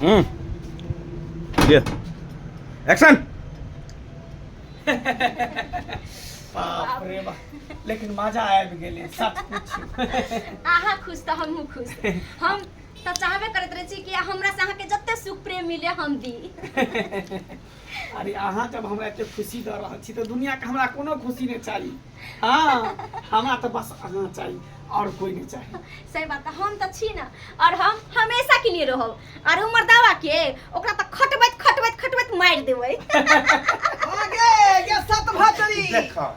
হুম দিয়ে অ্যাকশন बाप रे बाप लेकिन मजा आबि गेलै सच पूछू अहाँ खुश तऽ हमहूँ खुश हम तऽ चाहबे करैत रहै छी कि हमरा से अहाँके जते सुख प्रेम मिले हम दी अरे अहाँ जब हमरा एते खुशी दऽ रहल छी तऽ दुनियाके हमरा कोनो खुशी नहि चाही हँ हमरा तऽ बस अहाँ चाही और कोई नहीं चाहिए सही बात हम तो छी ना और हम हमेशा के लिए रहो और उमर दावा के ओकरा त खटबैत खटबैत खटबैत मार देबै आगे ये सत भाचरी देखा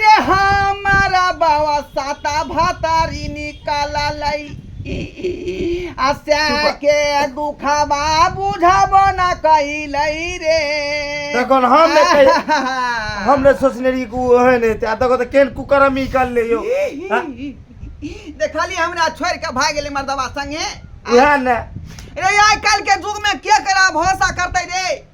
रे हमारा बाबा साता भातारी निकाल लई आशा के दुखवा बुझब न कैलई रे तखन हम ने कहि- हम ने सोचने रही कि ओ है नहीं आ देखो तो केन कुकर में निकाल ले यो हाँ? देखली हमरा छोड़ के भाग गेले मर्दवा संगे उहे ने रे आइ काल्हि के युग में के करा भरोसा करते रे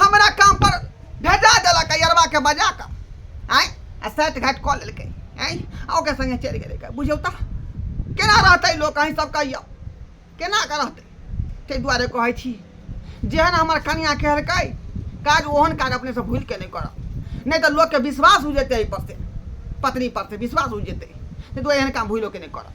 हमरा काम पर भेजा देलक यरबा के बजा कऽ आय आ सात घाट कऽ लेलकै आय आ ओकर संगे चलि गेलै बुझौ तऽ केना रहतै लोक अहीं सब कहियौ केना कऽ रहतै ताहि दुआरे कहै छी जेहन हमर कनिया कहलकै काज ओहन काज अपने सब भूलि के नहि करब नहि तऽ लोकके विश्वास हो जेतै एहिपर से पत्नी पर से विश्वास हो जेतै ताहि दुआरे एहन काम भूलो के नहि करब